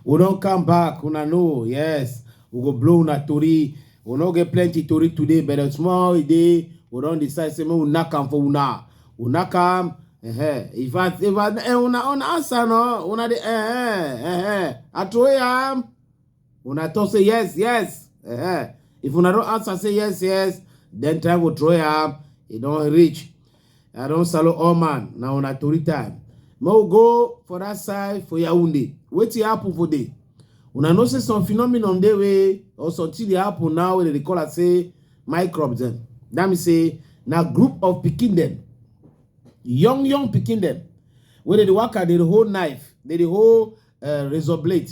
we don't come back una know yes we go blow una tori we no get plenty tori today but a small day we don decide say make we knack am for una we knack am uh -huh. if i if i eh, una una answer no una dey eh eh eh, eh. atwey am. Una talk say yes, yes. Uh eh, -huh. Eh. If una don't answer, say yes, yes. Then time will throw up. It don't reach. I don't salo all man. Now una tori time. Mo go for that side for Yaoundé. Wait your apple for day. Una know say some phenomenon dey way or something dey happen now wey they call it say microbes dem. That mean say now group of picking them, young young picking them. wey they work at the whole knife, they the whole uh, razor blade.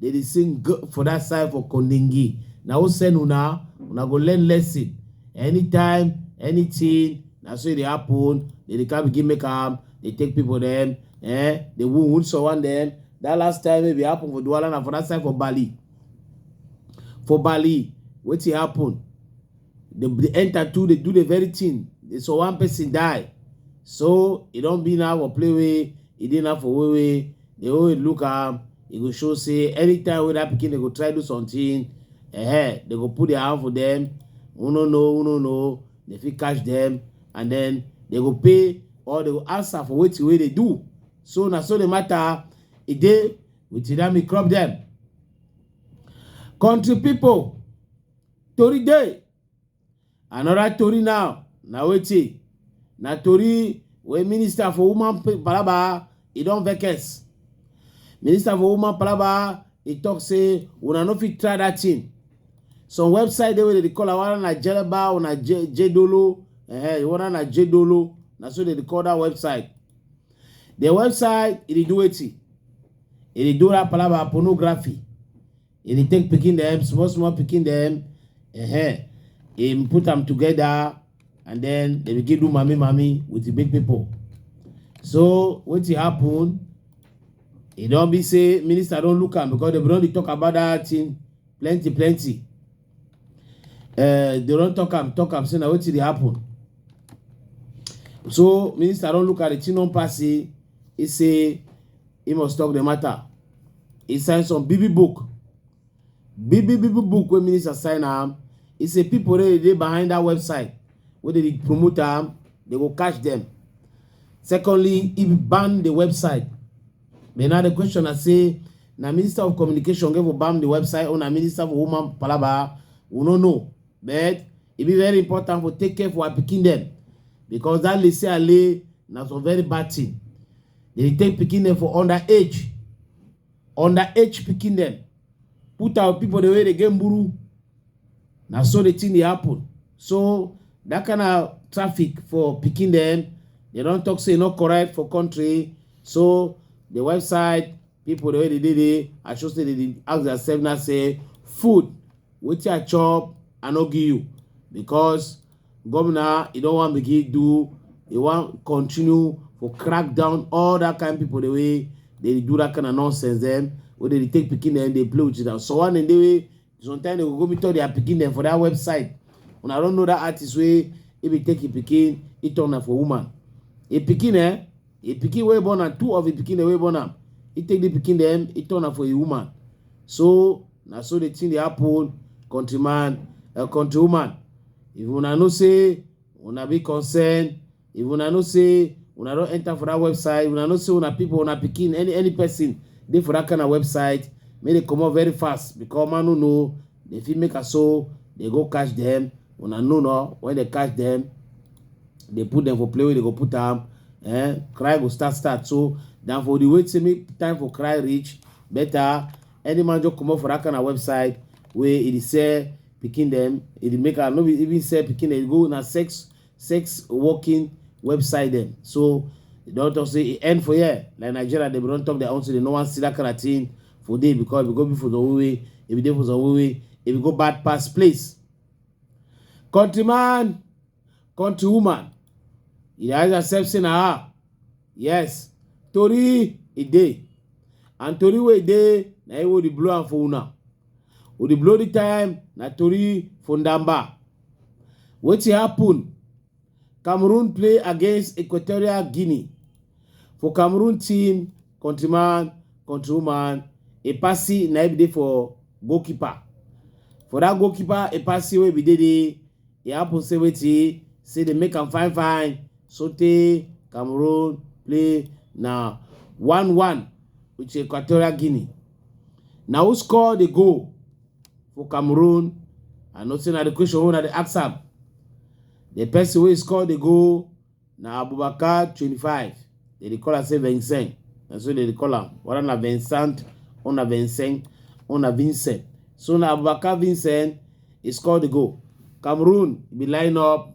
They dey sing g for that side for Kondingi. Na who send una? Una go learn lesson. Anytime, anything, na so e dey happen. They dey come begin make am. They take people them. Eh, they wound, wound someone them. That last time wey be happen for Douala na for that side for Bali. For Bali, wetin happen? dem dey enter too dey do the very thing so one person die so e don be now for play wey e dey now for way wey the way we look am e go show say anytime wey that pikin dey go try do something eh they go put their hand for them who no know who no know they fit catch them and then they go pay or they go answer for wetin wey they do so na so the matter e dey with Tidami crop them country people Tori dey. Another tori now na wetin? Na tori wey minister for woman palaba e don vex. Minister for woman palaba e talk say una no fit try that thing. Some website dey wey dem dey call am whether na Jeleba or na Je- Jedolo, eh, whether na Jedolo, na so dem dey call that website. The website e dey do wetin? E dey do that palaba pornography. e dey take pikin dem small small pikin dem uh-huh. e put am together and then dem begin do mami mami with the big people so wetin happen e don be say minister don look am because dem don dey talk about that thing plenty plenty uh, they don talk am talk am say na wetin dey happen so minister don look at the thing don pass say e say He must talk the matter. He signed some BB book. BB BB book when minister sign am. He say people they dey behind that website. Where they promote am, they will catch them. Secondly, he ban the website. Then now the question I say, na minister of communication gave ban the website or na minister for woman palaba. We no know. But it be very important for take care for our picking them. Because that lay say I lay na some very bad thing. They dey take pikin dem for under age, under age pikin dem, put am with people dem wey dey get mburu. Na so the thing dey happen. So that kind of traffic for pikin dem, they don talk say e no correct for country. So the website people wey dey dey dey i sure say they dey ask themselves now say food wetin i chop i no give you because governor e don wan begin do e wan continue for crack down all that kind people the way they dey do that kind of nonsense dem wey dey dey take pikin dem dey play with it and so one dem dey wey sometimes they go go meet all their pikin dem for that website una don know that artist wey he be take him pikin he turn am for woman him pikin eh him pikin wey born am two of him pikin dem wey born am he take the pikin dem he turn am for a woman so na so the thing dey happen countryman uh, countrywoman if una know say una be concerned if una know say una don enter for that website una know say una people una pikin any any person dey for that kind of website make dem comot very fast because man no know dem fit make am so dem go catch dem una know no when dem catch dem dey put dem for play wey dem go put am eh cry go start start so than for the wait say make time for cry reach better any man just comot for that kind of website wey e dey sell pikin dem e dey make am no be even sell pikin dem e go na sex sex working website dem so e don talk say e end for here like nigeria dem don talk their own say dem no wan see that kind of thing for there because we go be for some way if we dey for some way if we go bad pass place countryman countrywoman e dey ask yourself say na her yes tori e dey and tori wey e dey na im wey dey blow am for una we dey blow the time na tori for ndamba Wetin happen? Cameroon play against Equatorial Guinea. For Cameroon team, countryman, countrywoman, Epasi na be dey for goalkeeper. For that goalkeeper, Epasi wey be dey there, e happen say wetin say dey make am fine fine sotey Cameroon play na one one with Equatorial Guinea. Na who score the goal? for cameroon i know say na the question wey una dey ask am the person wey score the goal na abubakar twenty-five they dey call am say vincent na so they dey call am whether na vincent or na vincent or na vincent so na abubakar vincent he score the goal cameroon be line up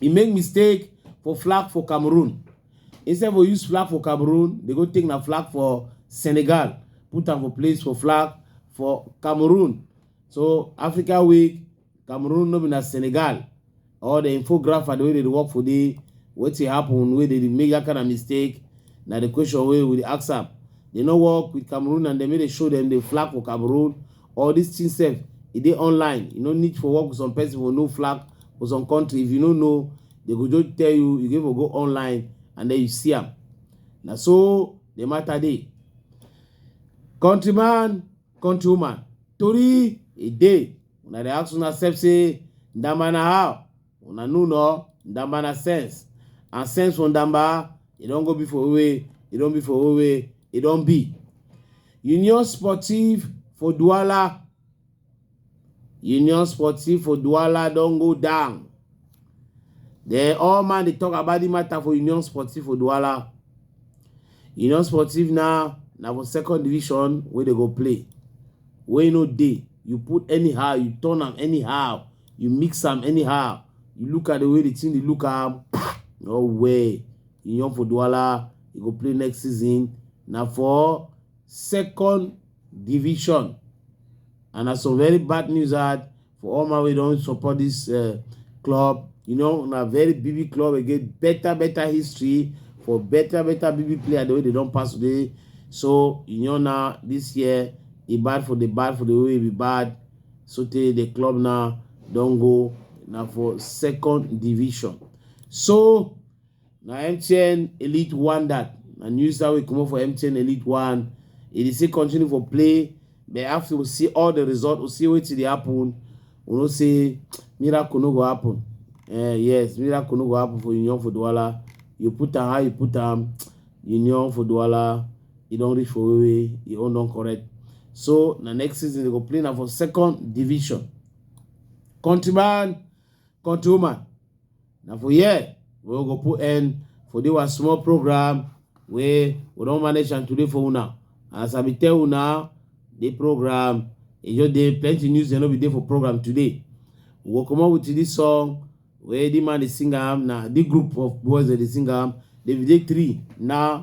e make mistake for flag for cameroon instead for use flag for cameroon they go take na flag for senegal put am for place for flag for cameroon so africa week cameroon no be na senegal or the infographer the way they dey work for there wetin happen wey dey dey make that kind of mistake na the question wey we dey ask am they no work with cameroon and dem make dey show dem the flag for cameroon all dis thing sef e dey online you no need for work with some person for no flag for some country if you no know they go just tell you you go go online and then you see am na so the matter dey countryman countrywoman tori e dey una dey ask una sef say ndamana how Una know no, Ndamba na sense. And sense for Ndamba, e don go be for Owe, e don be for Owe, e don be. Union Sportive for Douala. Union Sportive for Douala don go down. Then all man dey talk about the matter for Union Sportive for Douala. Union Sportive now na for second division wey dey go play. Wey no dey you put anyhow you turn am anyhow you mix am anyhow you look at the way the thing dey look am no way iyan for duala e go play next season na for second division and na some very bad news hard for all my wey don support this uh, club you know na very big club wey get better better history for better better big player the way they don pass today so iyan na this year e bad for the bad for the way e be bad sotey the club now don go na for second division so na mtn elite one that na news that will come up for mtn elite one e dey still continue for play but after we see all the result we see wetin dey happen we know say miracle no go happen uh, yes miracle no go happen for union for duwala you put am how you put am union for duwala e don reach for where wey e own don correct so na next season they go play na for second division countryman countrywoman na for here we go put end for this one small program wey we don manage am today for una as i bin tell una the program e just dey plenty news dem no be dey for program today we go comot with this song wey the man dey sing am na the group of boys dem dey sing am david three na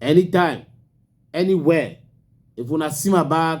anytime anywhere if una see my bag